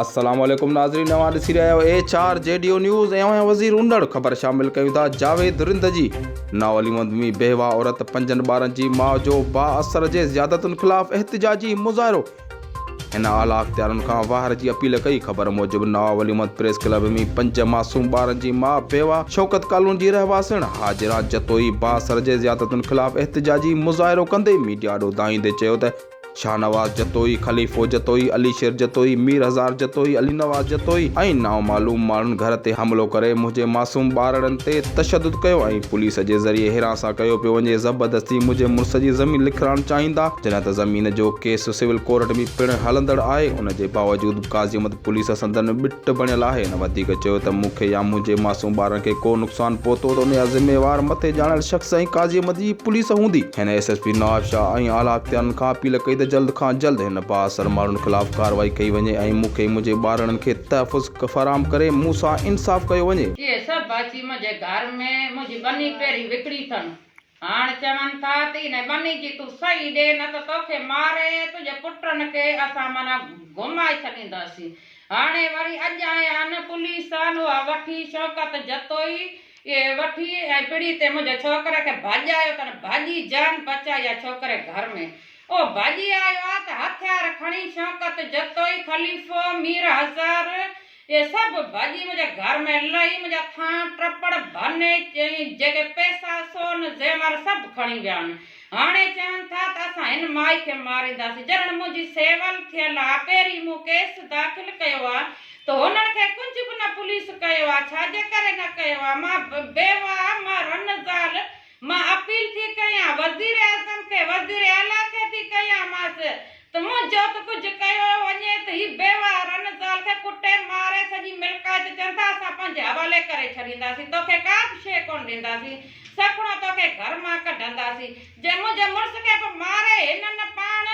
السلام عليڪم ناظرين اوهان ڏسي رهيا آهيو H R G D O news ۽ اوهان وزير اوندڙ خبر شامل ڪيون ٿا جاويد رند جي ناولي مندمي بيوه عورت پنجن ٻارن جي ماء جو با اثر جي زيادتن خلاف احتجاجي مظاهرو هن اعليٰ اختيارن کان واهر جي اپيل ڪئي. خبر موجب نواب علي محمد پريس ڪلب ۾ پنج معصوم ٻارن جي ماء بيوه شوڪت ڪالوني جي رهواسڻ هاجره جتوئي بااثر جي زيادتين خلاف احتجاجي مظاهرو ڪندي ميڊيا آڏو دانهيندي چيو ته شاهنواز جتوئي، خليفو جتوئي، علي شير جتوئي، مير هزار جتوئي، علي نواز جتوئي ۽ نامعلوم ماڻهن گهر تي حملو ڪري منهنجي معصوم ٻارڙن تي تشدد ڪيو ۽ پوليس جي ذريعي هيراسان ڪيو پيو وڃي زبردستي منهنجي مڙس جي زمين لکرائڻ چاهيندا جڏهن ته زمين جو ڪيس سول ڪورٽ ۾ پڻ هلندڙ آهي، ان جي باوجود به قاضي احمد پوليس سندن ٻٽ بڻيل آهي، هن وڌيڪ چيو ته مون کي يا منهنجي معصوم ٻارن کي ڪو نقصان پهتو ته ان جا ذميوار مٿي ڄاڻايل شخص ۽ قاضي احمد جي پوليس هوندي. هن S S P Nawabshah ۽ اعليٰ اختيارين کان اپيل ڪئي ته جلد کان جلد هن بااثر ماڻهن خلاف ڪارروائي ڪئي وڃي ۽ مون کي منهنجي ٻارڙن کي تحفظ فراهم ڪري مون سان انصاف ڪيو وڃي. اهي سڀ اچي منهنجي گهر ۾ منهنجي ٻني پيري وڪڻي اٿن. هاڻ چون ٿا ته انهي ٻني جي تون سهي ڏي نه ته توکي ماري تنهنجي پٽن کي اسان معنيٰ گمائي ڇڏينداسين. هاڻي وري اڄ آيا آهن پوليسان اها وٺي شوڪت جتوئي اهي وٺي ۽ پڙي تي منهنجي ڇوڪري کي ڀڄايو تن ڀڄي جان بچائي اها ڇوڪري گهر ۾ اهو ڀڄي آيو آ ته هٿيار کڻي شوڪت جتوئي خليفو مير هزار اهي سڀ ڀڄي منهنجي گهر ۾ لهي منهنجا ٿانء ٽپڙ ڀني ۽ جيڪي پئسا، سون، زيور سڀ کڻي ويا آهن. هاڻي چون ٿا ته اسان هن مائي کي مارينداسين. جڏهن منهنجي سول ٿيل آهي، پهرين مون ڪيس داخل ڪيو آهي ته هنن کي ڪجهه به نه پوليس ڪيو آهي. ڇا جي ڪري نه ڪيو آهي؟ مان بيواه آهيان، مان رن زال مان اپيل ٿي ڪيان وزيراعظم کي، وزيراعليٰ کي ٿي ڪيان ماس ته مون جو ته ڪجهه ڪيو وڃي ته هي بيواهه رن زال کي ڪٽي ماري سڄي ملڪائت چون ٿا اسان پنهنجي حوالي ڪري ڇڏينداسين توکي ڪا به شيء ڪونه ڏينداسين سکڻو توکي گهر مان ڪڍنداسين جي منهنجي مڙس کي به ماري هنن پاڻ